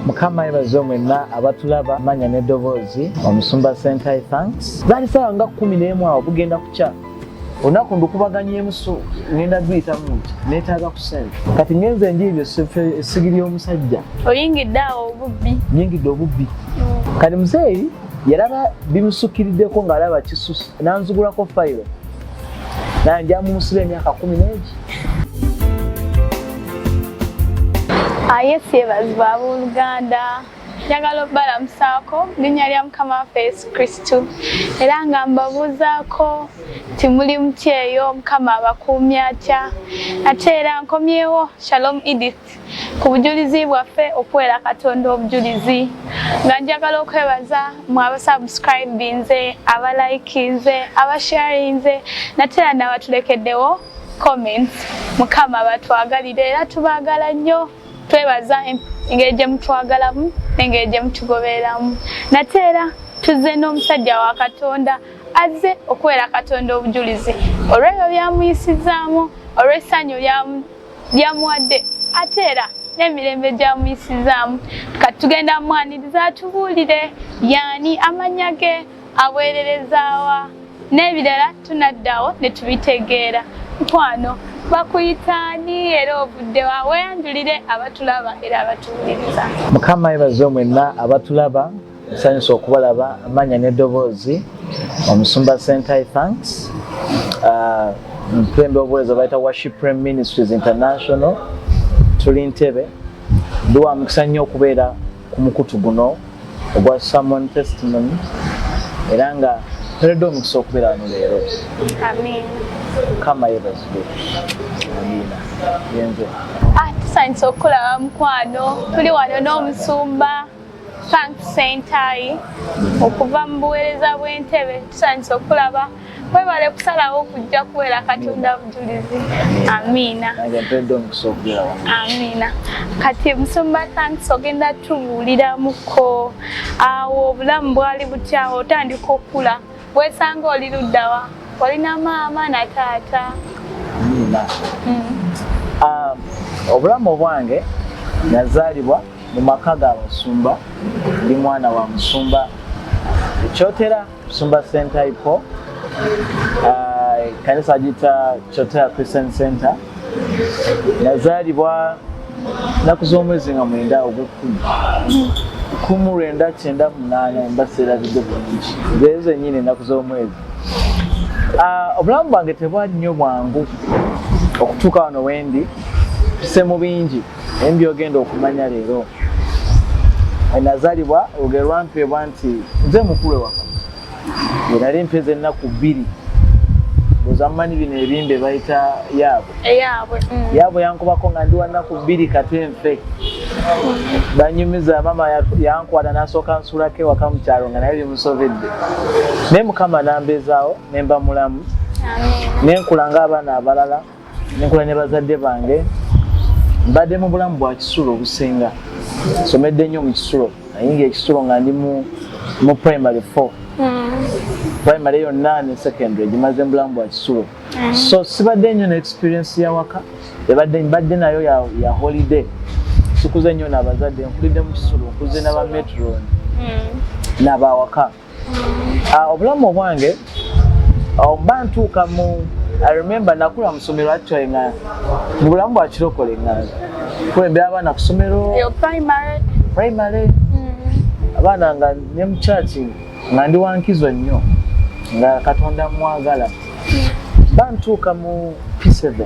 mukama yebaze mwenna abatulaba manya n'eddoboozi omusumba sentai thanks zaali saawa nga kumi n'emu awo bugenda kukya olunaku ndukubaganyemu so ngenda duyitamu nti neetaaga ku sente kati ngenze enjiibyo esigi ly'omusajja oyingidde awo obubbi nyingidde obubbi mm. kati muzeeyi yalaba bimusukiriddeko ng'alaba kisusi nanzugulako fayiro naye nja mumusula emyaka kumi n'egi ayesi ah, yebazi babooluganda njagala okubalamusaako linnya lya mukama waffe yesu kristu era nga mbabuuzaako nti muli mutyeyo mukama abakuumya atya ate era nkomyewo shalom edith ku bujulizi bwaffe okuweera katonda obujulizi nga njagala okwebaza mu abasubscribinze abalikinze abasharinze natera nabatulekeddewo comments mukama batwagalire era tubagala nnyo twebaza engeri gye mutwagalamu nengeri gye mutugobereramu nate era tuzze n'omusajja wa katonda azze okuweera katonda obujulizi olwebyo byamuyisizaamu olw'essanyu lyamu byamuwadde ate era n'emirembe gyamuyisizaamu kati tugenda mwaniriza atubuulire yaani amannya ge aweererezaawa n'ebirala tunaddawo ne tubitegeera mukwano bakuyitaani era ovuddewa weyanjulire abatulaba era abatuwuliriza mukama yebaze omwenna abatulaba nsanyusa okubalaba amanya nedoboozi omusumba sentai thanks uh, mpembe obuweereza bayita worship prime ministries international tuli ntebe ndi wa mukisa nnyo okubeera ku mukutu guno ogwa samon testimony era nga toledde omukisa okubeera wano leero kama yebazibwe amiina yenze ah, tusanyusa okukulaba mukwano tuli wano n'omusumba Frank Sentayi okuva mu buweereza bw'entebe tusanyusa okulaba webale kusalawo kujja kuweera katonda bujulizi amiina amiina kati musumba thanks ogenda tubuuliramuko awo obulamu bwali butyawo otandika okula Weesanga oli luddawa? Olina maama na taata? Nina. Mm. Um, obulamu obwange nazaalibwa mu maka ga basumba ndi mwana wa musumba ekyotera musumba sentaipo uh, ekanisa agiyita kyotera christian center nazaalibwa naku z'omwezi nga mwenda ogw'ekkumi kumu lwenda kyenda munaana mba seerabidde bulungi zeezo zennyini ennaku z'omwezi ah, obulamu bwange tebwali nnyo bwangu okutuuka wano wendi tuse mu bingi naye mbyogenda okumanya leero nazaalibwa olugero lwampeebwa nti nze mukulu ewaka Nali mpeze ennaku bbiri buzammanyi bino ebimbe bayita yaabwe eyaabwe mm. yaabwe yankubako nga ndi wannaku bbiri kate nfe banyumiza maama yankwata nasooka nsulako ewaka mu kyalo nga naye bimusobedde naye mukama nambeezaawo ne mba mulamu ne nkula ng'abaana abalala nenkola ne bazadde bange mbadde mu bulamu bwa kisulo obusinga somedde nnyo mu kisulo ayinga ekisulo nga ndi mu primary four hmm. primary yonna ne secondary gimaze mu bulamu bwa kisulo hmm. so sibadde nnyo ne experience yawaka ebadde mbadde nayo ya holiday sikuze nnyo nabazadde nkulidde mu kisulo nkuze naba metron hmm. nabawaka Ah, obulamu obwange ah, mba ntuuka mu i remember nakula musomero actually nga mu bulamu bwa kirokole nga kulembera abaana kusomero primary mm. abaana nga ne mukyaki nga ndi wankizo nnyo nga katonda mwagala mm. ba ntuuka mu p7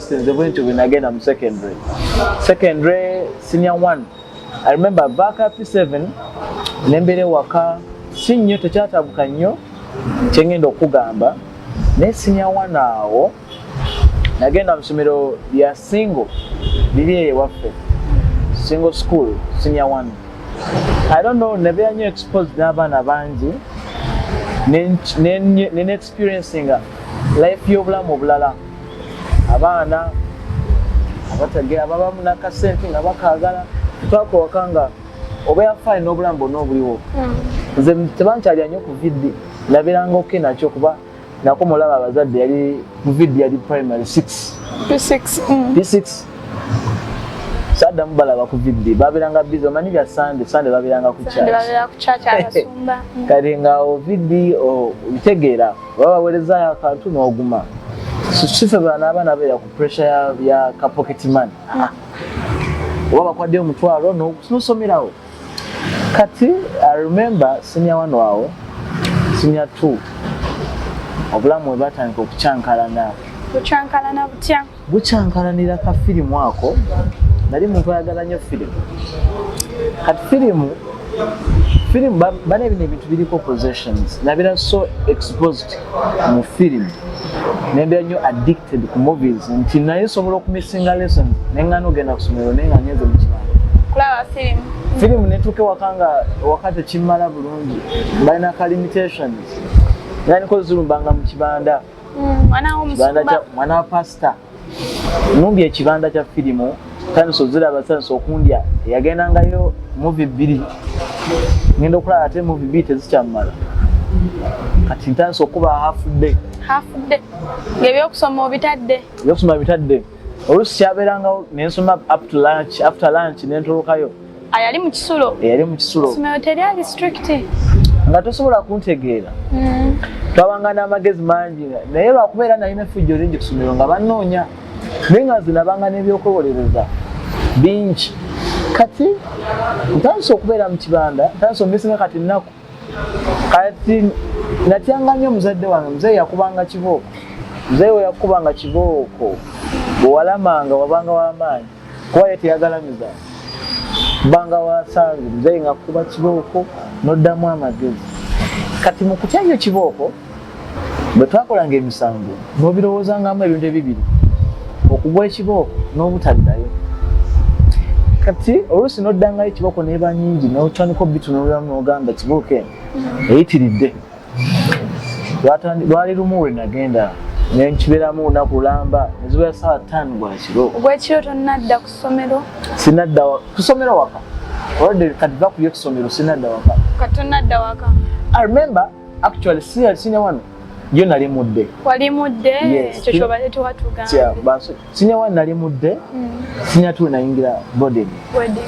nze bwentyo bwenagenda mu secondary secondary senior one i remember back up 7 nembeera ewaka si nnyo tekyatabuka nnyo kyengenda okugamba naye senior one awo nagenda mu somero lya single liri eyo ewaffe single school senior one i don't know nebeera nnyo exposed n'abaana bangi ne, ne, ne, ne experiencinga life y'obulamu obulala abaana abatagera baba munakasente nga bakagala twakowaka nga oba yafaayo n'obulamu bwonna obuliwo hmm. nze tebankyalya nnyo ku vidi nabeeranga oke nakyo kuba nako mulaba abazadde yali ku vidi yali primary six p6 hmm. saddamu balaba ku vidde babeeranga bizi omanyi bya sande sande babeeranga ku kati ngaawo vidde obitegeera oba baweerezayo akantu n'oguma sife bana abaana beera ku pressure ya kapocket man ah. oba bakwadde omutwalo nosomerawo kati i remember sinya wano awo sinya t obulamu webatandika okukyankalana okyankalana butya bukya nkalanira ka firimu ako nali muntu ayagala nnyo firimu kati firimu firimu bana ebino ebintu biriko possessions nabira so exposed mu firimu nembera nnyo addicted ku movies nti naye nsobola okumissinga lesson nengana ogenda kusomero naye nga nyenze mukibanga kulaba firimu firimu netuuka ewaka nga waka tekimmala bulungi balina ka limitations nandiko zirumbanga mu kibanda Mm, mwana wa pasita numbye ekibanda kya firimu times oziraba times okundya yagendangayo muvi bbiri ngenda okulaba ate muvi bbiri tezikyamumala kati ntandisa okuba hafudde hafudde ngaebyokusoma obitadde ebyokusoma bitadde olusi kyabeerangawo nensoma up to lunch after lunch nentolokayo ayali mu kisulo eyali mu kisulo somero teryali strict nga tosobola kuntegeera mm. twabanga n'amagezi mangi naye lwakuba era nalina efujjo lingi kusomero nga banoonya naye nga zinabanga n'ebyokwewolereza bingi kati ntandise okubeera mu kibanda ntandise omisinga kati nnaku kati natyanga nnyo omuzadde wange muzeeyi yakubanga kibooko muzeeyi we yakubanga kibooko bwewalamanga wabanga wamaanyi kuba ye teyagalamiza banga wasange muzeeyi ngakuba kibooko noddamu amagezi kati mu kutya nnyo kibooko bwe twakolanga emisango n'obirowoozangamu ebintu ebibiri okugwa ekibooko n'obutaddayo kati oluusi n'oddangayo ekibooko neeba nyingi n'otandika obitunuliramu n'ogamba ekibooko eno eyitiridde lwali lumu lwe nagenda nenkibeeramu olunaku lulamba nezibeera saawa ttaano gwakiro gwekiro tonnadda ku ssomero sinadda ku ssomero waka olwadde kati va kuyo ku ssomero sinadda waka kati tonnadda waka i remember actually si sinya wano yo nali mudde wali mudde ekyo kyobadde tuwatugambye sinya wano nali mudde hmm. sinya tuwe nayingira boarding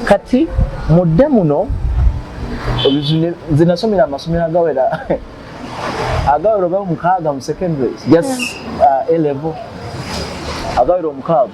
kati mudde muno nze nasomera amasomero agawera agawera oba omukaaga mu secondary just hmm. uh, a level agawera omukaaga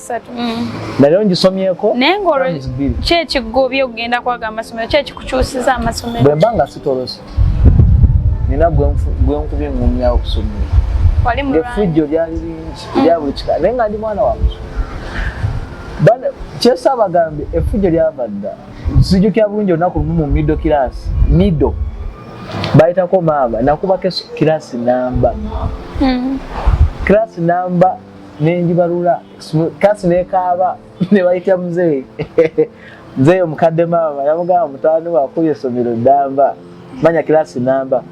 nali ongisomyeko naye ngaolkyekigobye okugenda kwaga amasomero kyekikukyusiza amasomero bwemba nga sitolose nina gwenkubye ngumyawo okusomero efujjo lyali lingi lya buli kika naye nga ndi mwana wa musomero kyesa abagambye efujjo lyava dda sijukira bulungi olunaku lumu mu mido kirasi mido bayitako maama nakubako kirasi namba kirasi hmm. namba nenjibalula kasi nekaaba nebayita mzee mzee omukadde maama yamugamba mutani wakuba esomero damba manya kilasi namba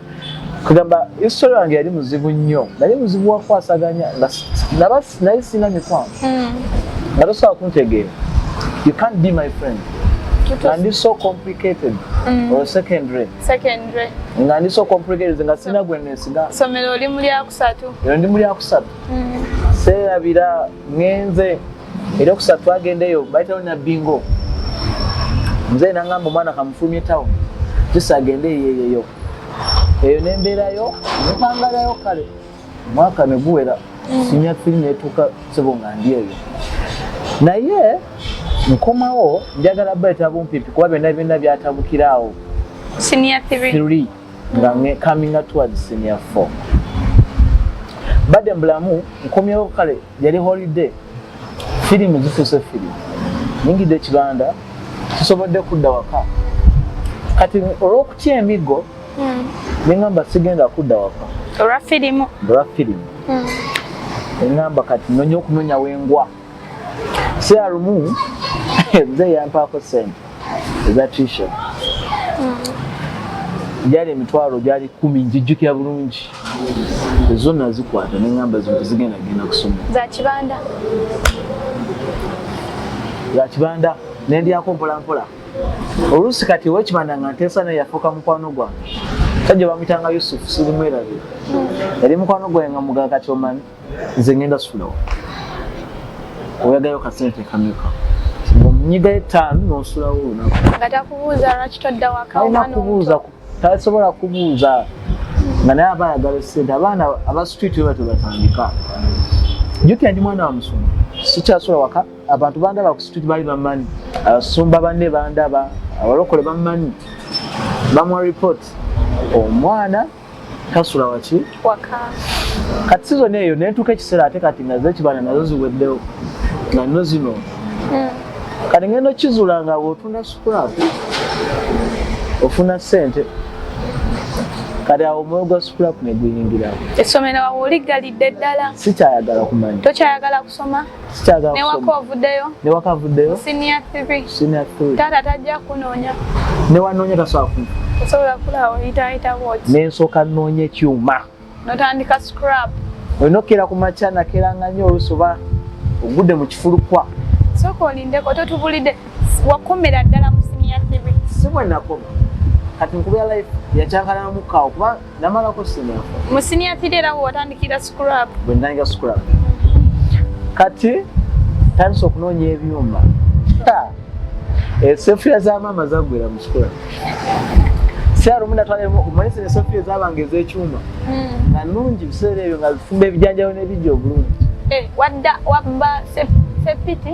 kugamba isitole wange yali muzibu nnyo nali muzibu wakwasaganya naye sina mikwano hmm. nga tosobola kuntegeera you can't be my friend nga ndi so complicated mm. or secondary secondary nga ndi so complicated nga sina gwe nesiga somero oli muli akusatu ero ndi muli akusatu seerabira ngenze era okusatu twagendeyo bayitawo nabbingo nze nangamba omwana kamufulumye town jisi agende eyeyeyo eyo nembeerayo nepangalayo kale omwaka neguwera sinya firi netuuka sebo nga ndi eyo naye nkomawo njagala bayita bumpipi kuba byonna byonna byatabukiraawo siniya three nga nge coming out towards senior four bade mbulamu nkomyewo kale yali holiday firimu zifuuse firimu nyingidde ekibanda sisobodde kudda waka kati olw'okutya emiggo hmm. nengamba sigenda kudda waka olwa firimu olwa firimu hmm. engamba kati nonya okunonya wengwa sialumu mzee yampaako sente eza tisha gyali hmm. emitwalo gyali kumi njijjukira bulungi ezo nazikwata neŋamba zintu zigenda genda kusoma zakibanda zakibanda nendyako mpolampola oluusi kati owekibanda nga nteesa naye yafuuka mukwano gwange sajja bamuyitanga yusufu sirimwerabe hmm. yali mukwano gwange nga mugaa kati omanyi nze ngenda sulawo oyagayo kasente kameka nyiga etaano nosulawo olunaku nga takubuuza lwaki todda wakalina kubuuza tasobola kubuuza nga naye aba ayagala sente abaana abasitwiti weba tebatandika jukira ndi mwana wa musumba sikyasobola waka abantu bandaba ku situti bali bamanyi abasumba banne bandaba abalokole bamanyi bamuwa report omwana kasula waki waka kati sizoni eyo nentuuka ekiseera ate kati naze ekibana nazo ziweddewo nga nno zino hmm. kati ngenda okizula nga bwotunda scrap ofuna sente kati awo omwoyo gwa scrap neguyingirawo essomero awo oligalidde ddala sikyayagala kumanya tokyayagala kusoma sikyagala kusoma newaka ovuddeyo newaka avuddeyo senior 3 senior 3 taata tajja kunoonya newanoonya tasobola ku osobola kulawo yitayita wot nensooka noonya ekyuma notandika scrap olina okukeera ku makya nakeranga nnyo oluusi oba ogudde mu kifulukwa sooka olindeko totubulidde wakomera ddala mu senior 3 si bwenakoma kati nkubeera life yakyankalanamu kawo kuba namalako siniya mu siniya tiri era watandikira scrap bwe ntandika scrap kati tandisa okunoonya ebyuma esefuya eh, za maama zagwera mu scrap syalumu natwalaomanisa esefuya ezabanga ezekyuma hmm. nga nungi biseera ebyo nga zifumba ebijanjalo nebijja obulungi eh, wadda wabba sepiti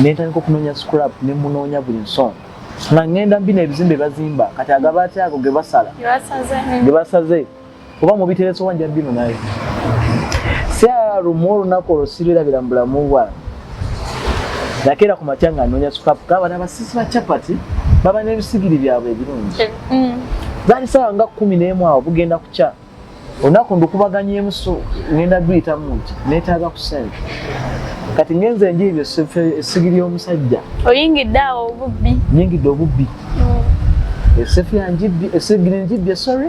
nentandika okunoonya scrap ne munoonya buli nsonga nga ngenda mbina ebizimbe bazimba kati agaba atya ago ge basala ge basaze oba mubiteresa oba nja bino naye siala lumu olunaku olwo sirwirabira mu bulamu bwange nakeera ku matya nga noonya scrap kaba nabasisi ba chapati baba n'ebisigiri byabwe ebirungi eh, mm. zaali sawa nga kumi n'emu awo bugenda kukya olunaku ndukubaganyemu so ngenda duyitamu nti netaaga ku sente kati ngenze enjiibyo essigiri y'omusajja oyingidde awo obubbi nyingidde obubbi mm. esefu yanjibbi esigiri njibbye sorry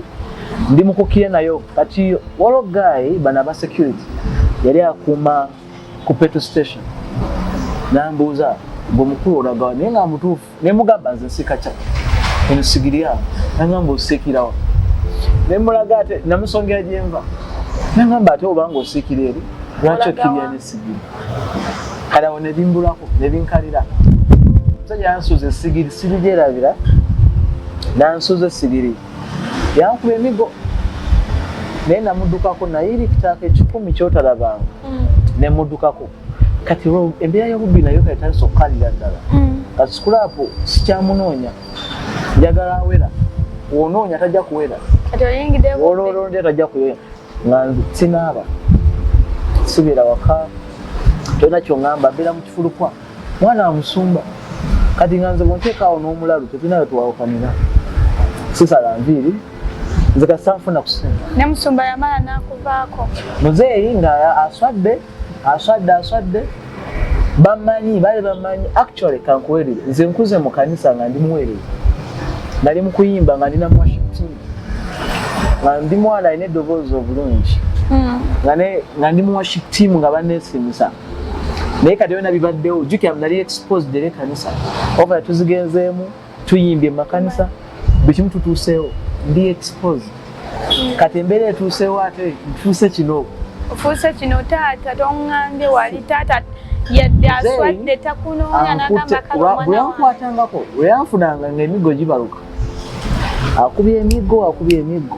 ndi mukukire nayo kati walo guy bana ba security yali akuuma ku petrol station nambuuza gwe mukulu olagawa naye nga mutuufu ne mugamba nze nsika chat eno sigiri ya nangamba osikirawa ne mulaga ate namusongera jenva nangamba ate obanga osikira eri lwaki okirya ne sigiri kala wona ebimbulako ne binkalira musajja yansuza esigiri siri gyerabira nansuza esigiri yankuba emigo naye namudukako naye iri kitaaka ekikumi kyotalabanga mm. nemudukako kati embeera y'obubbi nayo kati tandisa okukalira ddala mm. kati sikulaapu sikyamunoonya njagala awera wonoonya tajja kuwera ololonde tajja kuwera nga sinaaba sibeera waka tolina kyoŋamba mbeera mu kifulukwa mwana wa musumba kati nga nze bwonteekaawo n'omulalu tetulinayo twawukanira sisala nviiri nze kasanfuna kusinga ne musumba yamala nakuvaako muzeeyi nga aswadde aswadde aswadde bamanyi bali bamanyi actually kankuwerere nze nkuze mu kanisa nga ndi muwerere nali mukuyimba nga ndina mwashipti nga ndi mwana alina eddoboozi obulungi hmm. nga ndi muwaship team nga banesimisa naye kati byona bibaddewo jukira nali exposed era ekanisa oba tuzigenzeemu tuyimbye makanisa buli kimu tutuuseewo ndi expose kati embeera etuuseewo ate ntuuse kino ofuuse kino taata tongambye wali taata yadde aswadde takunoonya nagambakabweyankwatangako weyanfunanga nga emigo gibaluka akubye emigo akubye emigo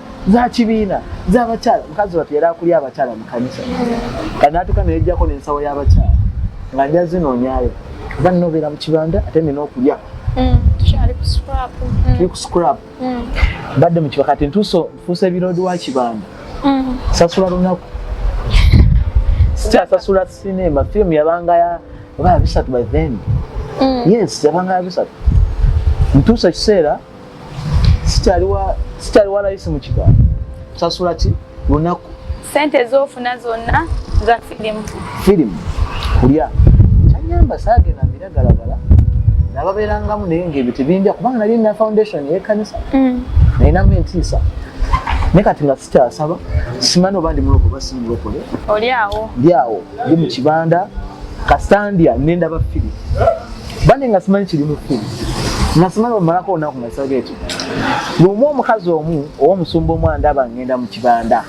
za kibiina za bakyala mukazi watu yali akulya abakyala mu kanisa kati natuuka neyejjako n'ensawo y'abakyala nga nja zinoonyayo oba nina obeera mu kibanda ate nina okulya mm, mm. tuli ku scrap mm. mbadde mu kiba kati ntuuso nfuusa ebiroodi wa kibanda sasula lunaku sikyasasula sinema firimu yabanga ya oba bisatu by then yes yabanga ya bisatu ntuusa ekiseera sikyali wa layisi mu kigambo sasula ki lunaku sente ezofuna zonna za filimu filimu kulya kyanyamba saagenda mbiragalagala nababeerangamu naye ngaebyo tebinja kubanga nali na foundation yekanisa mm. nalinamu entiisa ne kati nga kyasaba simani oba ndi muloko oba simulokole oli awo ndi awo ndi mu kibanda kasandya nenda ba fili bane nga simanyi kiri mu fili nga simanyi omalako olunaku nga saba ekyo lumu omukazi omu ow'omusumba omu andaba ngenda mu kibanda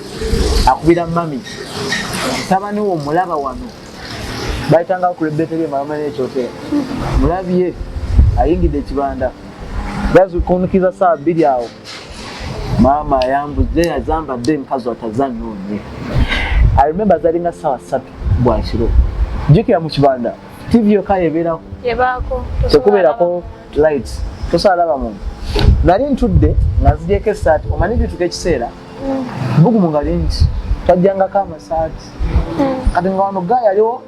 akubira mami tabani wo mulaba wano bayitanga ku rebeta lye malama n'ekyotera mulabye ayingidde ekibanda bazi kunkiza saa bbiri awo maama ayambuze yazambadde mukazi atazannya onye i remember zalinga sawa satu bwakiro jukira mu kibanda tv yoka yebeerako tekubeerako light tosobola laba muntu nali ntudde nga nzigyeko esaati omanyi bituka ekiseera mm. bugumu nga lingi twajjangako amasaati mm. kati nga wano ga yaliwo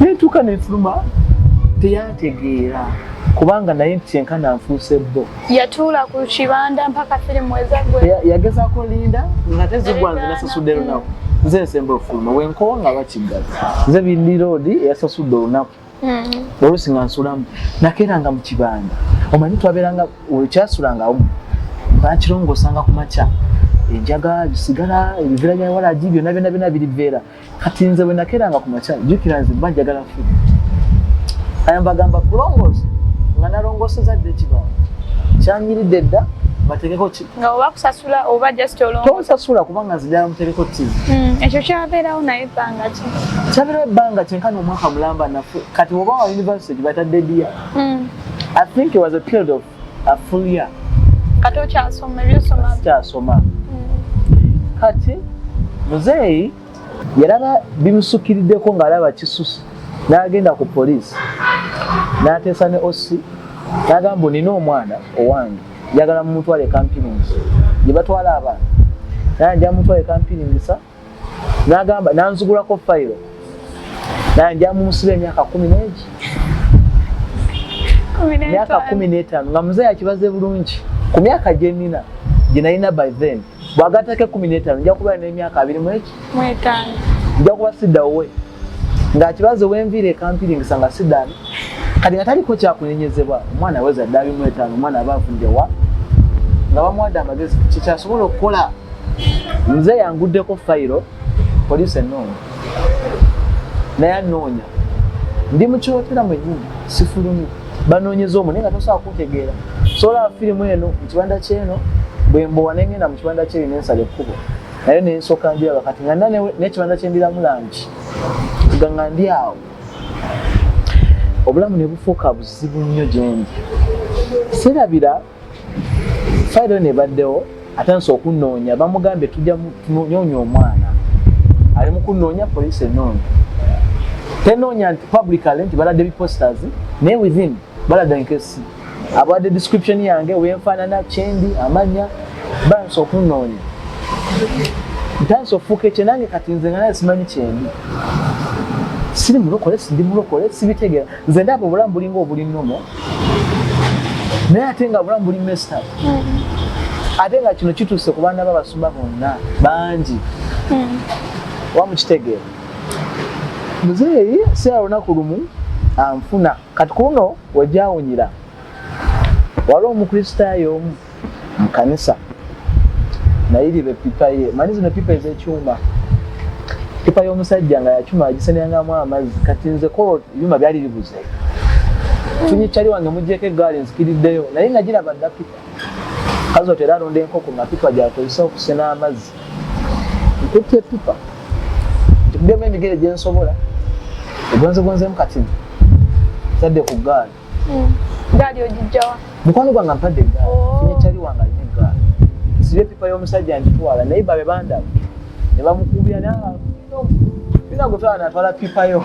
nentuuka nenfuluma teyantegeera kubanga naye nti kyenkana nfuuse bbo yatuula ku kibanda mpaka firimu ezagwe yagezako linda nga tezigwa nze nasasudde lunaku nze nsemba okufuluma wenkowa nga bakiggaza nze bindi roodi eyasasudde olunaku hmm. olusi nga nsulamu nakeeranga mu kibanda omanyi twabeeranga kyasulangao bakirongosanga ku makya enjaga bisigala ebivera bya walagi byona byona byona biriveera kati nze bwe nakeranga ku makya jjukira nze mba njagala nfiri ayambagamba kulongoosa nga nalongooseza dda ekibawo kyanyiridde dda bategeko ki nga oba kusasula oba just olongo tonsasula kubanga nze njala mutegeko tv hmm, ekyo kyabeerawo naye ebbanga ki kyabeerawo ebbanga kyenkana omwaka mulamba nafe kati oba wa university batadde dia hmm. i think it was a period of afulya kati okyasoma ebyosoma kyasoma hmm. kati muzeeyi yalaba bimusukiriddeko ng'alaba kisuse n'agenda ku poliisi n'ateesa ne osi n'agamba nina omwana owange njagala mumutwale kampirinisa gye batwala abaana naye nja mutwale kampiringisa nagamba nanzigulako fayiro naye nja mumusiba emyaka kumi negi myaka kumi n'etaano nga muzeeyi akibaze bulungi ku myaka gye nina gye nalina by then bwagatako ekumi n'etaano nja kubeera n'emyaka abiri mweki nja kuba sidawowe ng'akibaze wenviire ekampiringisa nga sidaani kati nga taliko kyakunenyezebwa omwana aweza ddabi mu etaano omwana aba avundewa nga bamuwadde amagezi kyekyasobola okukola nze yanguddeko fayiro poliisi enoonya naye anoonya ndi mukiwotera mwenyini sifulumu banoonyeza omu naye nga tosobola kutegeera soolaba firimu eno mu kibanda kyeno bwembowa nengenda mu kibanda kyeyo nensala ekkubo naye nensoka njiraba kati nga nekibanda kyendiramu langi nga nga ndi awo obulamu ne bufuuka buzibu nnyo gyendi sirabira fayiro eno ebaddewo atandise okunoonya bamugambye tujja tunoonya omwana ali mu kunoonya poliisi enoonya tenoonya nti publicale nti balade biposters naye within balada nkesi abadde description yange wenfaanana kyendi amanya bansi okunoonya ntandise okufuuka ekye nange kati nze nga naye simanyi kyendi siri mulokole sindi mulokole sibitegera nze ndaba obulamu bulinga obuli nomo naye ate nga obulamu buli mesta mm-hmm. ate nga kino kituuse ku baana babasumba bonna bangi mm-hmm. wamukitegeera muzeeyi sirala lunaku lumu anfuna kati kuno wejawunyira waliwo omukristaayo omu mu kanisa naye liba epipa ye manyi zino epipa ezekyuma epipa y'omusajja nga yakyuma agisenengamu amazzi kati nze kolo byuma byali bibuze funye kyali wange mugyeko egaali nzikiriddeyo naye nga giraba dda pipa kazi otera alonda enkoko nga pipa gyakozesa okusena amazzi nkutte epipa ntikudemu emigere gyensobola egonzegonzemu kati tadde ku gaali hmm. gaali ogijjawa mukwano gwange mpadde egaali oh. finyecali wange alina egaali nsiba epipa y'omusajja njitwala naye babe bandaba ne bamukubira naagutwala natwala pipa yo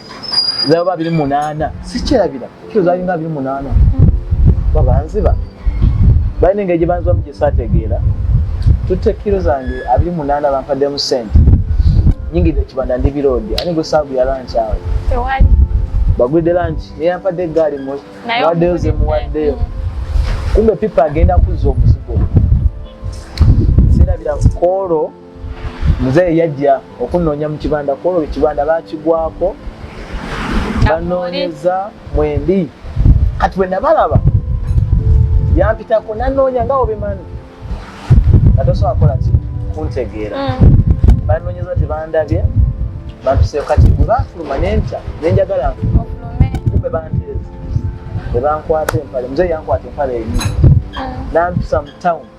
zaba biri munana sikyerabira kyo zali nga biri munana babanziba bali ninga gye banziba mu gyesategeera tutte kiro zange abiri munana bampaddemu sente nyingidde kibanda ndi biroodi ani gwe saabu ya lanki awo bagwidde lanki neyampadde eggaali muwaddeyo zemuwaddeyo kumbe pipa agenda kuzza omuzigo sirabira koolo muzeeyi yajja okunnoonya mu kibanda kwolwo ekibanda bakigwako banoonyeza mwendi kati bwe nabalaba yampitako nanoonya nga obimanyi nga tosobola kola ki kuntegeera mm. banoonyeza tebandabye bantuseeko kati bwe bafuluma nenkya nenjagala nfulume banteeza ne bankwata empale muzeeyi yankwata empale enyini mm. nampisa mu tawuni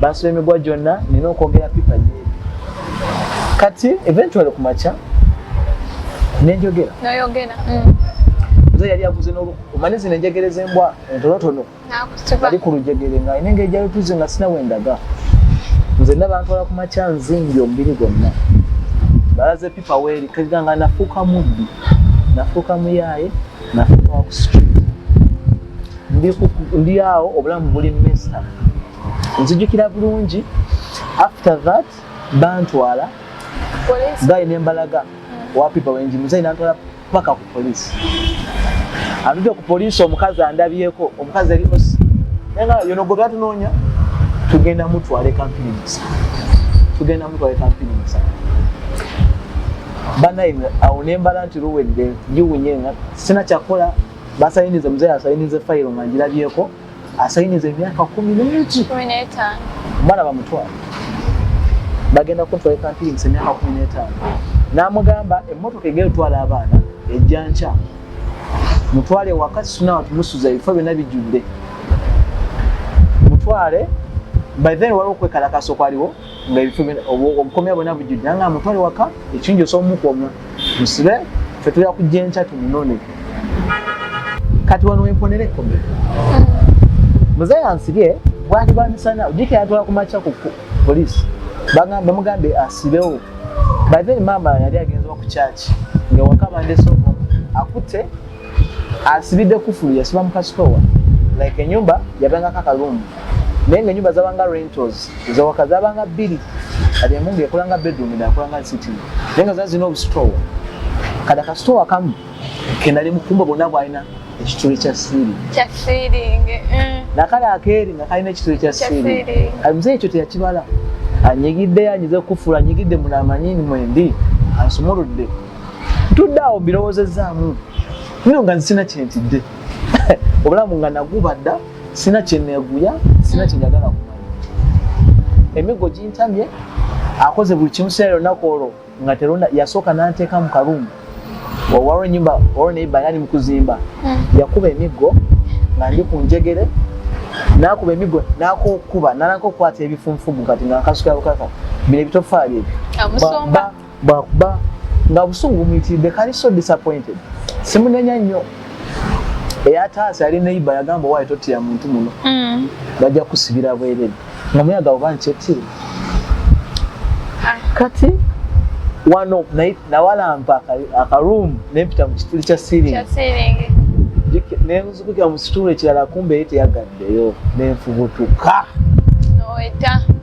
bansula emigwa gyonna nina okwogera pipa nyeeri kati eventually ku makya nenjogera mm. nze yali aguze omanye zino enjegere z'embwa entonotono ali ku lujegere nga ine nga ejalotuze nga sina wendaga nze nabantwala ku makya nzingi omubiri gwonna balaze pipa weeri kaga nga nafuuka mubbi nafuuka muyaaye nafuuka waku street ndi awo obulamu buli mesa nzijukira bulungi after that bantwala gayi nembalaga wapipa wenji muzeyi nantwala paka ku polisi atude ku polisi omukazi andabyeko omukazi eri osi nayenga yono gwe gatunonya tugenda mutwala ekampini musa tugenda mutwala ekampini musa banaye awo nembala nti luwedde njiwunye nga sina kyakola basayinize muzeyi asayinize fayiro nga njilabyeko asayiniza emyaka kumi nenti omwana bamutwala bagenda kuntwala ekampiringisa emyaka kumi netaano namugamba emotoka egenda otwala abaana ejja nkya mutwale waka sunawa tumusuza ebifo byona bijjudde mutwale by then waliwo okwekalakasa okwaliwo nga ebifo obukomya bwona bujjudde anga amutwale waka ekingi osobomukomya musibe fe tuya kujja enkya tumunone kati wano wemponera ekkombe muzeeyi ansibye bwali bamisana ojika yatwala kumakya ku polisi bamugambe asibewo by then maama yali agenzewa ku kyaki nga waka bandesa omu akutte asibidde kufulu yasiba mu kasitowa like enyumba yabangako akalungu naye nga enyumba zabanga rentals zawaka zabanga bbiri kati emu nga ekolanga bedroom eda akolanga city naye nga zazina obusitowa kati akasitowa kamu kenali mukumba bonna bwalina ekituli kya siiri mm. nakale akeeri nga kalina ekituli kya siiri kati muzeyi ekyo teyakibala anyigidde yanyize kufuula anyigidde munaamanyini mwendi ansumuludde tudde awo mbirowozezzaamu nino nga nzisina kyentidde obulamu nga naguba dda sina kyeneeguya sina kyenjagala kumanya emiggo gintamye akoze buli kimu sina lunaku olwo nga terona yasooka nanteeka mu karumu waliwo enyumba waliwo neiba yali mu kuzimba hmm. yakuba emiggo nga ndi ku njegere nakuba emigo nakokuba nalanka okukwata ebifunfugu kati nga nkasuka bukaka bino ebitofaali ebyo bwakuba nga obusungu bumuyitiridde kali so disappointed simunenya nnyo eyataasa yali neiba yagamba owaye totira muntu muno mm. bajja kusibira bwerere nga muyaga oba nkyetire ah. kati wano nawalampa akaruumu nempita mu kituli kya siringi nenzukukira mu situulu ekirala kumbeyo teyagaddeyo nenfubutuka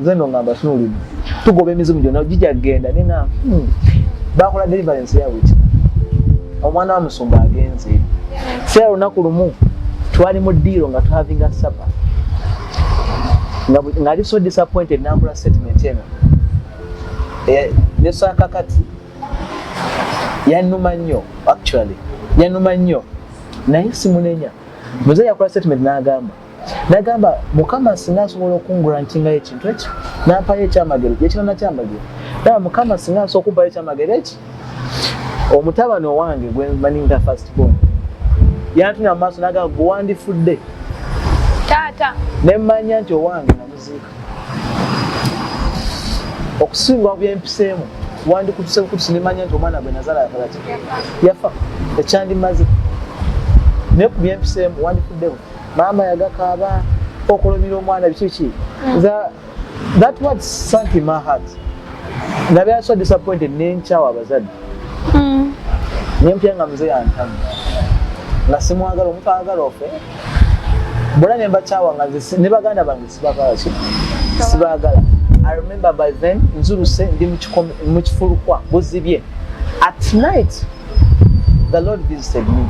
nze no ngamba tunulide tugoba emizimu gyona gija kugenda naye nga hmm, bakola deliverance ya wiki omwana wa musumba agenze seera lunaku lumu twali mu diiro nga tuhavinga sapa nga ali so disappointed nakola statement eno eh, nesaka kati yanuma nnyo actually yanuma nnyo naye simunenya muze yakola statement n'agamba nagamba mukama singa asobola okungrantingayo ekintu ekyo nampayo ekyamagero gyekirana kyamagero naba mukama singa asobola okubayo ekyamagero eki omutabani owange gwemanyi nga fast bon yantunya mu maaso nagamba gwewandifudde taata nemmanya nti owange namuziika okusinga byempiseemu wandikutuse bukutusi nemanya nti omwana gwe nazala yakolaki yafa ekyandimaze naye ku byempiseemu wandifuddewo maama yagakaaba okulumira omwana bikiki mm. that word sank in my heart nabe aso disappointed nenkyawa abazadde mm. nempya nga mzee antamu nga simwagala omuntu agala ofe bona nembakyawa nga ne baganda bange sibagala sibagala i remember by then nzuluse ndi mu kifulukwa buzibye at night the lord visited me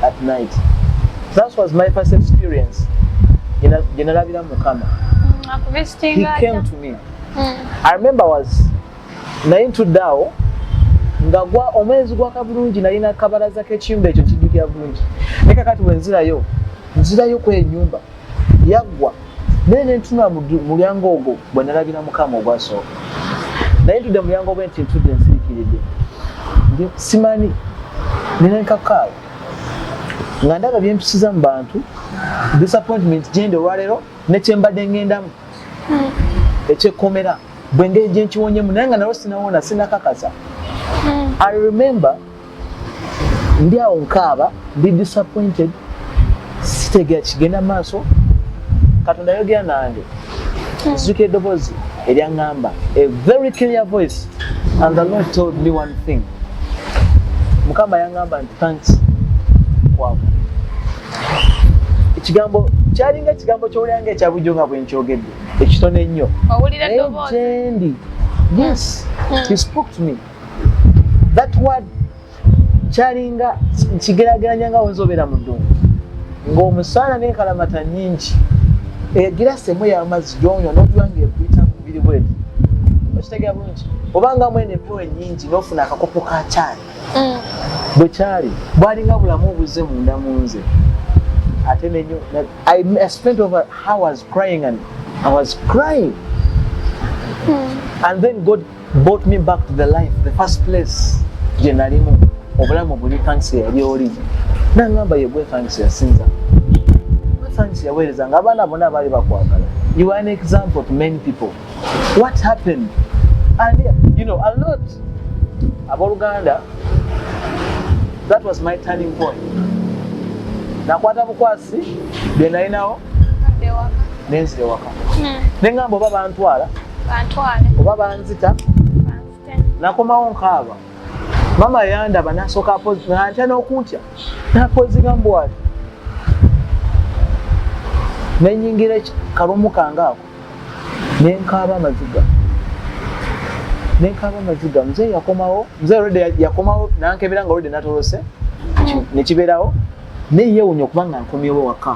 at night that was my first experience gye nalabira mukama he came to me mm. i remember was naye ntuddaawo nga gwa omwezi gwaka bulungi nalina kabalaza kekiyumba ekyo kijjukira bulungi naye kakati bwenzirayo nzirayo kwenyumba yaggwa naye nentunula mulyango ogwo bwe nalabira mukama ogwasooka naye ntudde mulyango ogwe nti ntudde nsirikiridde simanyi nina enkakaayo nga ndaba byempisiza mu bantu disappointment gyendi olwaleero nekyembadde ngendamu hmm. ekyekkomera bwengeri gyenkiwonyemu naye nga nalwo sinawona sinakakasa hmm. i remember ndi awo nkaaba ndi disappointed sitegera kigenda maaso katonda yogera nange hmm. zuka eddoboozi eryaŋŋamba a very clear voice and the lord told me one thing mukama yaŋŋamba nti thanks kwabo ekigambo kyalinga ekigambo kyowuliranga ekyabujjo nga bwenkyogedde ekitono ennyo naye gyendi yes hmm. he spoke to me that word kyalinga nkigerageranya nga wenza obeera mu ddungu ng'omusaana n'enkalamata nyingi egirasi emu y'amazzi gyonywa n'okuba nga ekuyita mu mubiri bweti okitegera bulungi obanga mwena empewo enyingi n'ofuna akakopo ka kyali mm. bwe kyali bwalinga bulamu obuzze munda mu nze ate nenyo i spent over hours crying and i was crying mm. and then god bought me back to the life the first place gye nalimu obulamu buli kanisa eyali oli nangamba yegwe kanisa yasinza kanisa yaweereza nga abaana bona baali bakwagala you are an example to many people what happened and you know a lot abooluganda that was my turning point nakwata bukwasi byenalinawo nenzirewaka hmm. nengamba oba bantwala oba banzita nakomawo nkaaba mama yandaba nasoka antya nokuntya napozigambuwali nenyingira kalumu kange ako nenkaaba amaziga nenkaaba amaziga mzee yakomawo mzee rede yakomawo nankebera nga rede natolose nekiberawo neyewunya okuba nga nkomyewo waka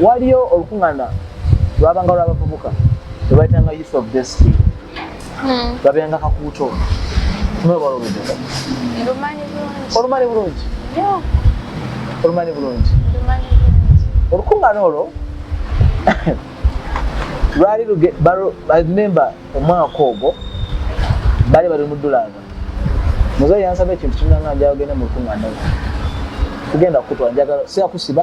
waliyo olukuŋŋaana lwabanga lw'abavubuka lwe bayitanga youth of destiny hmm. lwabeeranga kakuuto mwebala oluvubuka olumanyi bulungi olumanyi bulungi olukuŋŋaana olwo lwali remember omwaka ogwo bali bali mu ddulaanga muzeeyi yansaba ekintu kimulanga njagenda mu lukuŋŋaana lwo kugenda kukutwala njagala siyakusiba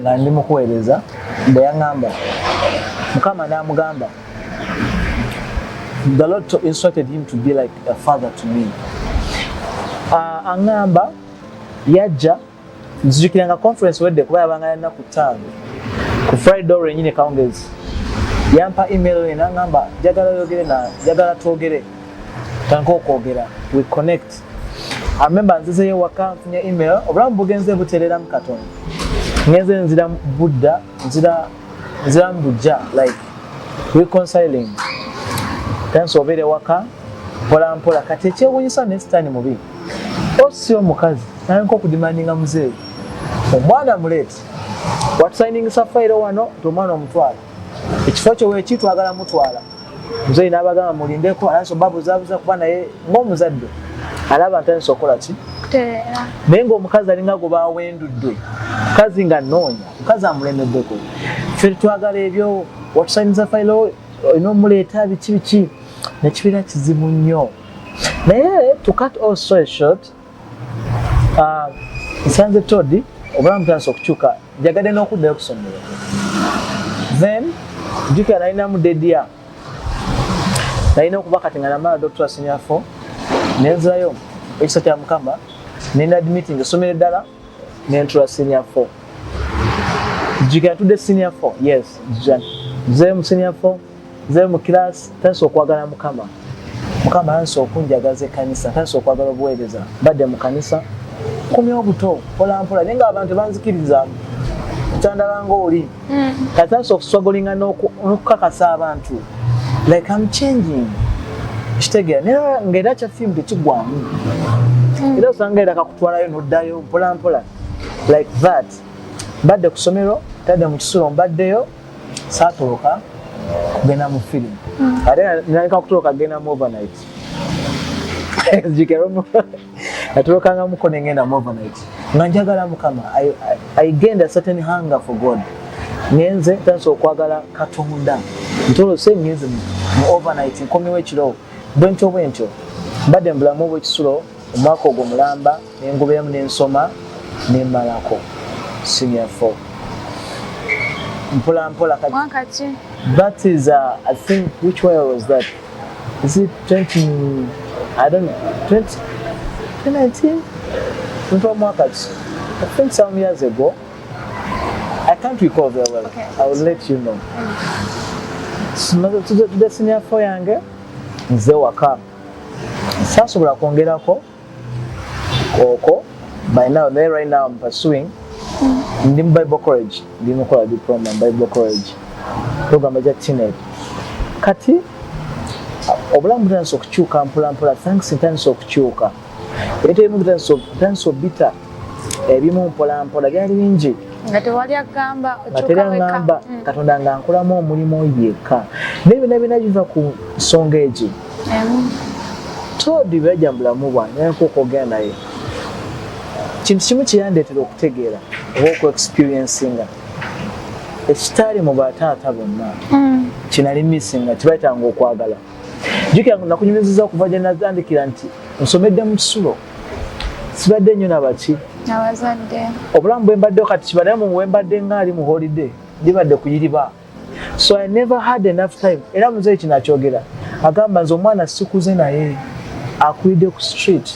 nga ndi mukuweereza bwe yaŋŋamba mukama n'amugamba the lord instructed him to be like a father to me uh, aŋŋamba yajja nzijukira nga conference wedde kuba yabanga yalina ku ttaano ku friday olwo enyini kawungezi yampa email ena ŋŋamba jagala oyogere na jagala twogere tanka okwogera we connect amemba nzizeyo waka nfunye email obulamu bugenze butereramu katonda ngenze nzira budda nzira nzira mbujja like reconciling tansi obeere waka mpola mpola kati ekyewunyisa ne sitaani mubi osi omukazi nayenka okudimandinga muzeeyi omwana muleeti watusainingisa fayiro wano nti omwana omutwala ekifo kyo weki twagala mutwala muzeeyi n'abagamba mulindeko anansi obabuzabuza kuba naye ng'omuzadde alaba ntandisa okukola ki naye ng'omukazi alinga gwe bawendudde mukazi nga noonya mukazi amulemeddeko fe twagala ebyo watusainyiza failo olina omuleeta biki biki nekibeera kizibu nnyo naye to cut all story short Ah, nsanze todi obulamu tandisa okukyuka njagadde n'okuddayo kusomero then jukira nalinamu dedia nalina okuba kati nga namala doctor senior fo nenzirayo ekisa kya mukama nina admitting esomero eddala nentula senior four jjukira ntudde senior four yes jjukira nze mu senior four nze mu class tandise okwagala mukama mukama tandise okunjagaza ekkanisa tandise okwagala obuweereza badde mu kanisa kumya obuto mpolampola naye nga abantu banzikiriza kyandala ngaoli mm. kati that's of struggling and okukakasa abantu like i'm changing kitegera naye nga era kya film tekigwamu mm. era osanga era kakutwalayo noddayo mpola mpola like that mbadde ku somero tadde mu kisulo mbaddeyo saatoloka kugenda mu film mm. ate naleka kutoloka kugenda mu overnight natulokangamuko nengenda mu overnight nga njagala mukama i gained a certain hunger for god ngenze tansa okwagala katonda ntolose ngenze mu overnight nkomyewo ekiro bwentyo bwentyo mbadde mubulamu obwekisulo omwaka ogwo mulamba nengubeemu nensoma nemalako senior four mpola mpola kati that is uh, i think which way was that Is it 20, I don't know, 20, 2019? Mtu mwaka I think some years ago. I can't recall very well. Okay. I will let you know. Tumaze tudde senior fo yange nze waka. Sasobola kwongerako kooko by now naye right now I'm pursuing mm. ndi mu bible college ndi mukola diploma mu bible college program eja teenage kati obulamu butandisa okukyuka mpolampola thanks ntandisa okukyuka ebitali bimu bitandisa obita ebimu mpolampola byali bingi nga tewali agamba okyukaweaamba mm. katonda nga nkulamu omulimu yekka naye bina bina biva ku nsonga egi todi byaja mu bulamu bwange nayeko okwogera naye kintu kimu kyeyandeetera okutegeera oba okuexperiencinga ekitaali mu bataata bonna mm. kinalimisinga kibayitanga okwagala jukira nti nakunyumiziza okuva gye natandikira nti nsomedde mu kisulo sibadde nnyo nabaki abazadde obulamu bwe mbadde kati kibadde mu bwe mbadde ngaali mu holide ndibadde kuyiriba so i never had enough time era muzeeyi kino akyogera agamba nze omwana sikuze naye akulidde ku street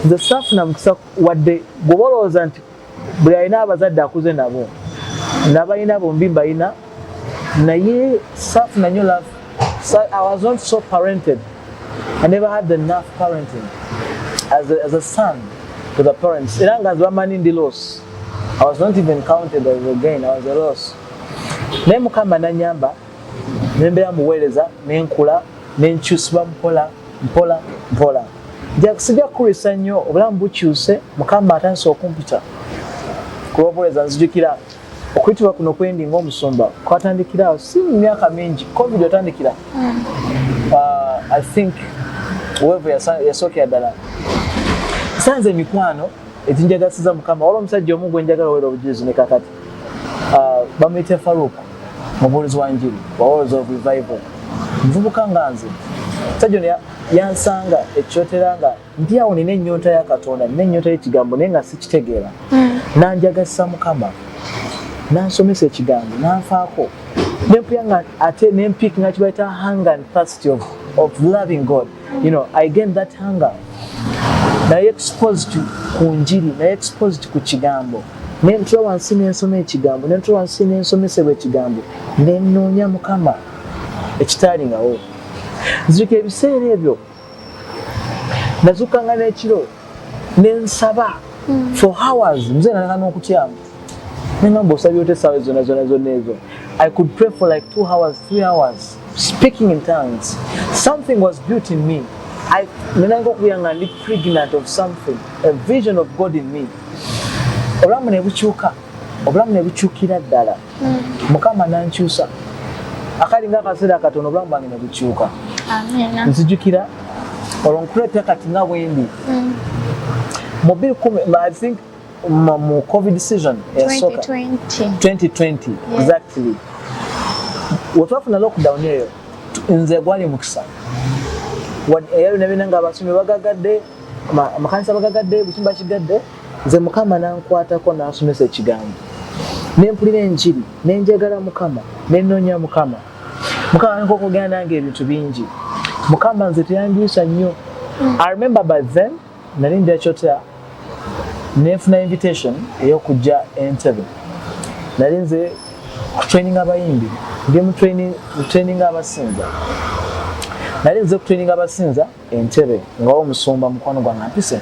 nze saafuna mukisa wadde gwoba olowooza nti buli alina abazadde akuze nabo nabalina bombi mbalina naye safuna nyo love so i was not so parented i never had the enough parenting as a, as a son to the parents era nga zibamanyi ndi loss i was not even counted as again i was a loss naye mukama nanyamba nembeera muweereza nenkula nenkyusibwa mpola mpola mpola sijja kukulisa nnyo obulamu bukyuse mukama atandisa okumpita kulwobuweereza nzijukira okuyitibwa kuno kwendi ngaomusumba kwatandikirawo si mu myaka mingi covid otandikira mm. uh, i think weve yasookera ddala sanze emikwano eginjagasiza mukama wala omusajja omu gwenjagala owera obujulizi nekakati ah, bamuyita faruk mubuulizi wa njiri wa words of revival muvubuka nga nze sajja ono yansanga ekyotera nga ndi awo nina ennyonta ya katonda nina ennyonta y'ekigambo naye nga sikitegeera hmm. nanjagasa mukama nansomesa ekigambo nanfaako nempuyanga ate nempik nga kibaita hang and past of, of loving god you know, I gained that hunger. Naye exposed ku njiri, naye exposed ku kigambo. Nentula wansi nensoma ekigambo, nentula wansi nensomesebwa ekigambo, nenoonya mukama ekitaali ngawo. Nzirika ebiseera ebyo, nazuka nga n'ekiro. nensaba mm. for hours mzee nataka nokutyamu nengamba osabye ote esawa zona zona zona ezo i could pray for like two hours three hours speaking in tongues something was built in me nenanga okuyanga ndi pregnant of something a vision of god in me obulamu nebukyuka obulamu nebukyukira ddala mukama nankyusa akali nga akaseera akatono obulamu bwange ne bukyuka nzijukira olwo nkuleeta kati nga bwendi mm. mu biri kumi i think mu covid season eyasoka 2020 exactly wetwafuna lockdown eyo nze gwali mukisa eyalinabyona nga abasomi bagagadde amakanisa bagagadde butimba kigadde nze mukama nankwatako nansomesa ekigambo nempulira enjiri nenjagala mukama nenonya mukama mukama nkokogera nange ebintu bingi mukama nze teyandiisa nnyo i remember by then nali ndira kyotera nenfuna invitation eyokujja entebe nali nze kutraining abayimbi ndi mutraining abasinza nali nze kutraining abasinza entebe nga omusumba mukwano gwange ampise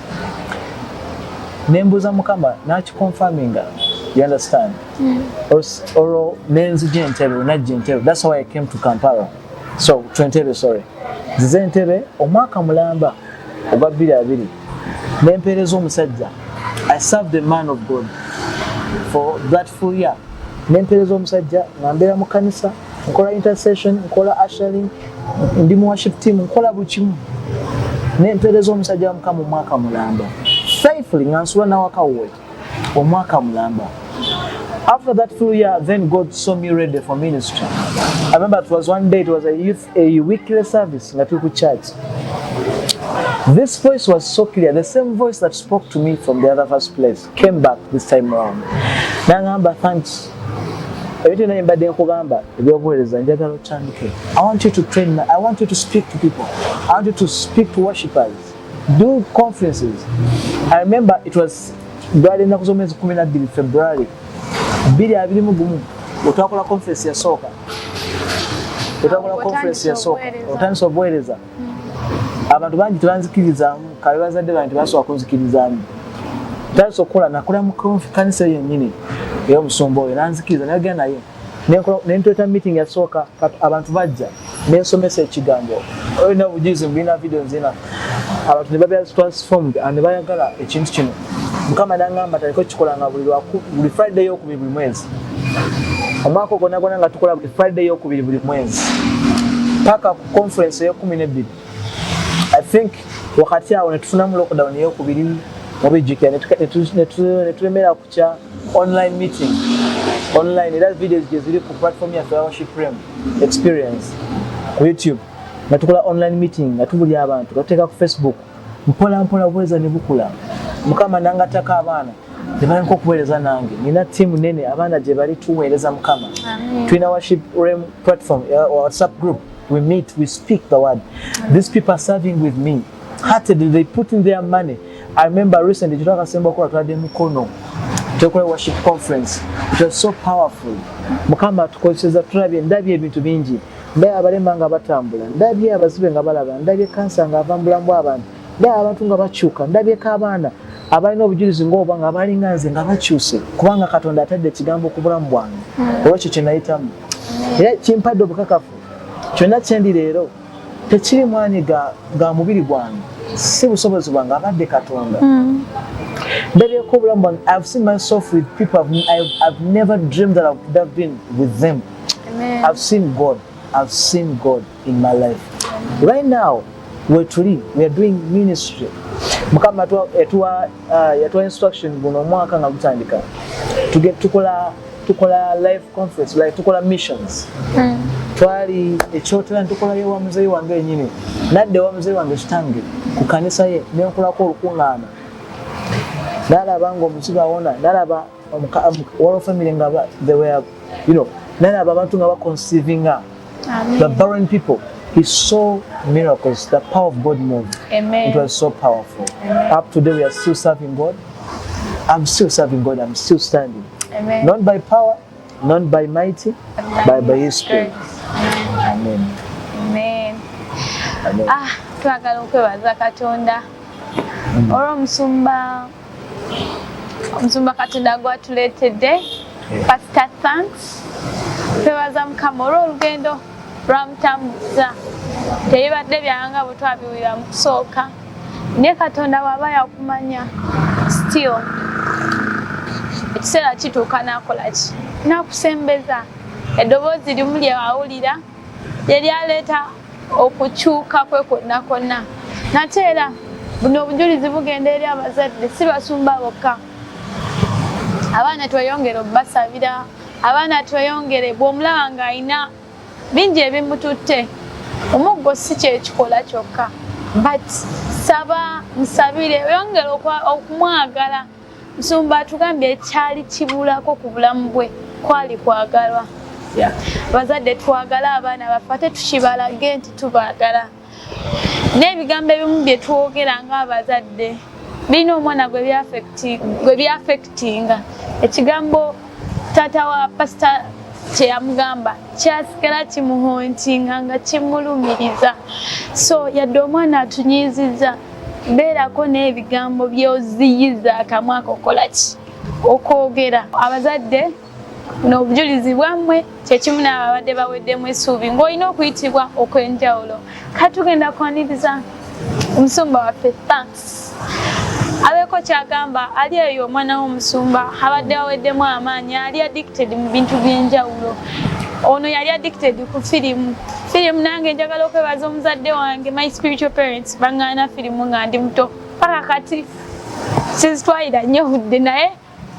nembuuza mukama nakiconfirminga you understand mm. olwo nenzija entebe najja entebe thats why i came to kampala so to entebe sorry zize entebe omwaka mulamba ogwa bbiri abiri nempeereza omusajja i serve the man of god for that full year nempeereza omusajja nga mbeera mu kanisa nkola intercession nkola ashering ndi mu worship team nkola buli kimu naye mpeereza omusajja wa mukama omwaka mulamba faithfully nga nsula nawakawuwe omwaka mulamba after that full year then god saw me ready for ministry i remember it was one day it was a youth a weekly service nga tuli ku church this voice was so clear the same voice that spoke to me from the other first place came back this time round nangamba thanks ebintu byona byembadde nkugamba ebyobuweereza njagala otandike i want you to train my, i want you to speak to people i want you to speak to worshippers do conferences i remember it was gwali ennaku z'omwezi kumi nabbiri february bbiri abiri mu gumu otwakola conference yasooka otwakola conference yasooka otandisa obuweereza abantu bangi tebanzikirizaamu kabe bazadde bange tebasobola kunzikirizaamu tandisa okukola nakola mukonfi kanisa eyo yennyini era omusumba oyo nanzikiriza nayogera naye nentweta meeting yasooka abantu bajja nensomesa ekigambo olina bujuzi mubirina video nzina abantu nebabera transformed nebayagala ekintu kino mukama nangamba taliko kikolanga buli friday yokubiri buli mwezi omwaka ogwonagwona nga tukola buli friday yokubiri buli mwezi paka conference eyekumi nebbiri i think wakati awo netufunamu lockdown eyokubiri mubijjukira netulemera kukya online meeting online era videos gyeziri ku platform ya fellowship frame experience ku youtube nga tukola online meeting nga tubuli abantu gatuteeka ku facebook mpola mpola bweza ne bukula mukama nangatako abaana nebalinka okuweereza nange nina tiimu nene abaana gye bali tuweereza mukama tulina worship rem platform uh, whatsapp group we meet we speak the word these people are serving with me heartedly they put in their money i remember recently kitwakasemba okuba twade mukono tukola worship conference it was so powerful mukama atukozeseza tulabye ndabye ebintu bingi ndabye abalema nga batambula ndabye abazibe nga balaba ndabye kansa nga ava mubulamu bwabantu ndabye abantu nga bakyuka ndabyeko abaana abalina obujulizi ngaoba nga abalinga nze nga bakyuse kubanga katonda atadde ekigambo ku bulamu bwange hmm. olwekyo kyenayitamu era kimpadde obukakafu kyonna kyendi leero tekiri mwanyi ga mubiri gwange si busobozi bwange abadde katonda hmm. ndabyeko obulamu bwange ive seen myself with people ive never dream that ive been with them Amen. I've seen God. I've seen God in my life. Amen. Right now, where to live, we are doing ministry. Mukama yatuwa uh, yatuwa instruction guno mwaka nga gutandika. Tuge tukola tukola live conference, like tukola missions. Mm. Twali ekyotera tukola yewa mzee wange yenyini. Nadde wa mzee wange kitange ku kanisa ye ne nkolako olukungana. Nalaba ngo msiba wona, nalaba waliwo family nga they were you know naye abo abantu nga baconceivinga the barren people he saw miracles the power of god moved Amen. it was so powerful Amen. up today we are still serving god i'm still serving god i'm still standing Amen. not by power not by mighty Amen. but by his spirit amen amen, amen. ah twagala okwebaza katonda mm. olwomusumba omusumba katonda gwatuleetedde eh. pasita thanks twebaza mukama olw'olugendo lwamutambuza teyibadde byanga bwetwabiwulira mu kusooka naye katonda bwaba yakumanya still ekiseera kituuka nakola ki nakusembeza eddoboozi limu lyewawulira lyeryaleeta okukyuka kwe kwonna kwonna nate era buno obujulizi bugenda eri abazadde si basumba bokka abaana tweyongere okubasabira abaana tweyongere bwomulaba ng'alina bingi ebimututte omuggo si kyekikola kyokka but saba musabire oyongere okumwagala Nsumba atugambye ekyali kibulako ku bulamu bwe kwali kwagalwa. Abazadde twagala abaana baffe ate tukibalage nti tubaagala. N'ebigambo ebimu bye twogera ng'abazadde birina omwana gwe byafekitinga. Ekigambo taata wa pasita kye yamugamba kyasigala kimuhontinga nga kimulumiriza. So yadde omwana atunyiizizza. beerako n'ebigambo by'oziyiza akamwa ako kola ki okwogera abazadde buno obujulizi bwammwe kyekimu naabo abadde baweddemu essuubi ng'olina okuyitibwa okw'enjawulo katugenda kwaniriza omusumba waffe thanks abeeko kyagamba ali eyo omwana w'omusumba abadde aweddemu amaanyi ali addicted mu bintu by'enjawulo ono yali addicted ku firimu firimu nange njagala okwebaza omuzadde wange my spiritual parents bangana firimu nga ndi muto paka kati sizitwalira nnyo budde naye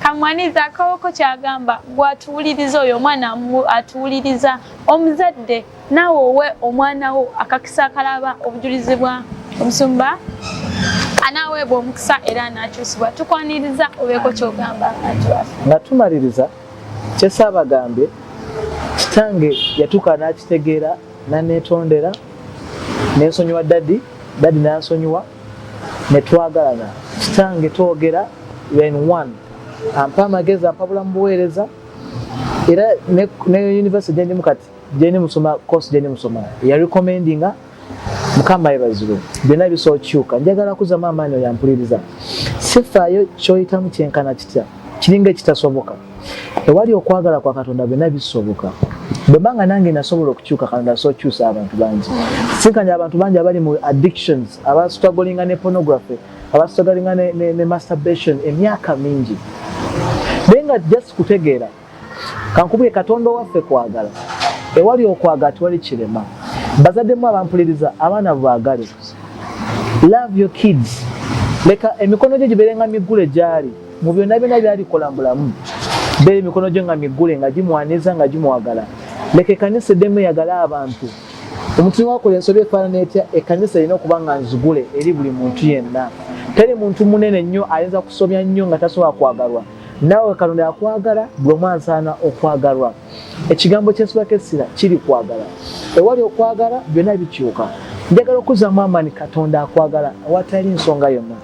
kamwaniza akawoko kyagamba gwatuwuliriza oyo omwana atuwuliriza omuzadde naawe owe omwana wo akakisa akalaba obujulizi bwa omusumba anaaweebwa omukisa era anaakyusibwa tukwaniriza obeeko kyogamba nga tumaliriza kyesaabagambye kitange yatuuka n'akitegeera nanetondera nensonyiwa dadi dadi nansonyiwa netwagalana kitange twogera len one ampa amagezi ampabula mubuweereza era ne university gyendimu kati gyendi musoma course gyendi musoma yarecommendinga mukama yebazibwe byonna bisobola okukyuka njagala kuzamu amaanyi oyo ampuliriza sifaayo kyoyitamu kyenkana kitya kiringa ekitasoboka ewali okwagala kwa katonda byonna bisoboka bwemba nga nange nasobola okukyuka katonda asobola okukyusa abantu bangi sinkanya abantu bangi abali mu addictions abasutagolinga ne pornography abasutagolinga ne, ne, ne masturbation emyaka mingi naye nga just kutegeera kankubule katonda owaffe kwagala ewali okwagala tewali kirema bazaddemu abampuliriza abaana bwagale love your kids leka emikono gyo gibeerenga miggule gyali Mu byonna byonna by'alikola mu bulamu bbe, emikono gye nga miggule nga gimwaniriza nga gimwagala. Leka ekkanisa eddemu eyagale abantu. Omuntu ne bw'akola ensobi efaanana etya, ekkanisa erina okuba nga nzigule eri buli muntu yenna. Teri muntu munene nnyo ayinza kusobya nnyo nga tasobola kwagalwa. Naawe Katonda yakwagala, buli omu ansaana okwagalwa. Ekigambo ky'ensibako essira kiri kwagala. Ewali okwagala, byonna bikyuka. Njagala okuzzaamu amaanyi, Katonda akwagala awatali nsonga yonna.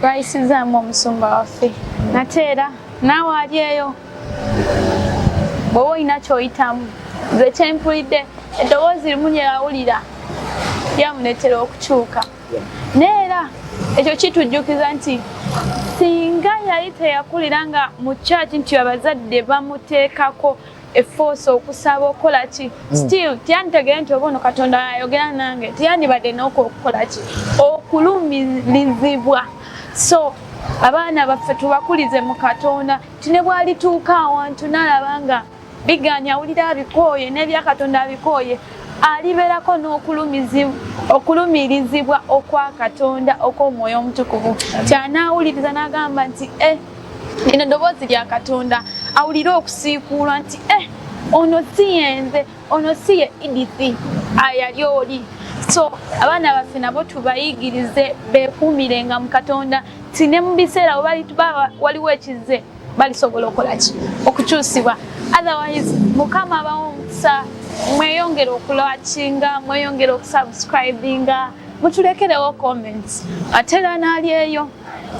twayisizaamu omusumba waffe nate era naawe ali eyo bweoba olina kyoyitamu nze kyempulidde eddoboozi limu lyeyawulira lyamuleetera okukyuka naye era ekyo kitujjukiza nti singa yali teyakulira nga mu kyaki nti abazadde bamuteekako efoosa okusaba okukola ki hmm. still teyanditegere nti oba ono katonda ayogera nange teyandibadde noku okukola ki okulumirizibwa so abaana baffe tubakulize mu katonda ti ne bwalituuka awantu nalaba nga biganya awulira abikooye nebyakatonda abikooye alibeerako n'okulumirizibwa okwa katonda okw'omwoyo omutukuvu kyanaawuliriza n'agamba nti e lino ddoboozi lya katonda awulire okusiikuulwa nti eh ono si yenze ono si ye edith ayali oli so abaana baffe nabo tubayigirize bekuumire nga mu katonda ti ne mu biseera waliwo ekizze balisobola okola ki okukyusibwa otherwise mukama abawo omukisa mweyongere okulakinga mweyongere okusubscribinga mutulekerewo comments atera nalyeyo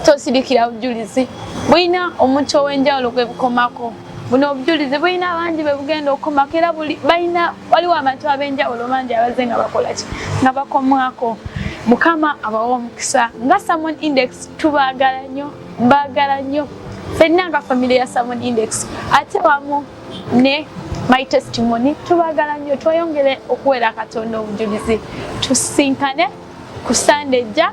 tosidikira bujulizi bulina omuntu ow'enjawulo gwe bukomako buno obujulizi bulina abangi bwe bugenda okukomako era balina waliwo abantu ab'enjawulo bangi abazze nga bakola ki nga bakomwako mukama abawa omukisa nga samon index tubaagala nnyo mbaagala nnyo fenna nga famire ya samon index ate wamu ne my testimony tubaagala nnyo tweyongere okuweera katonda obujulizi tusinkane ku sande ejja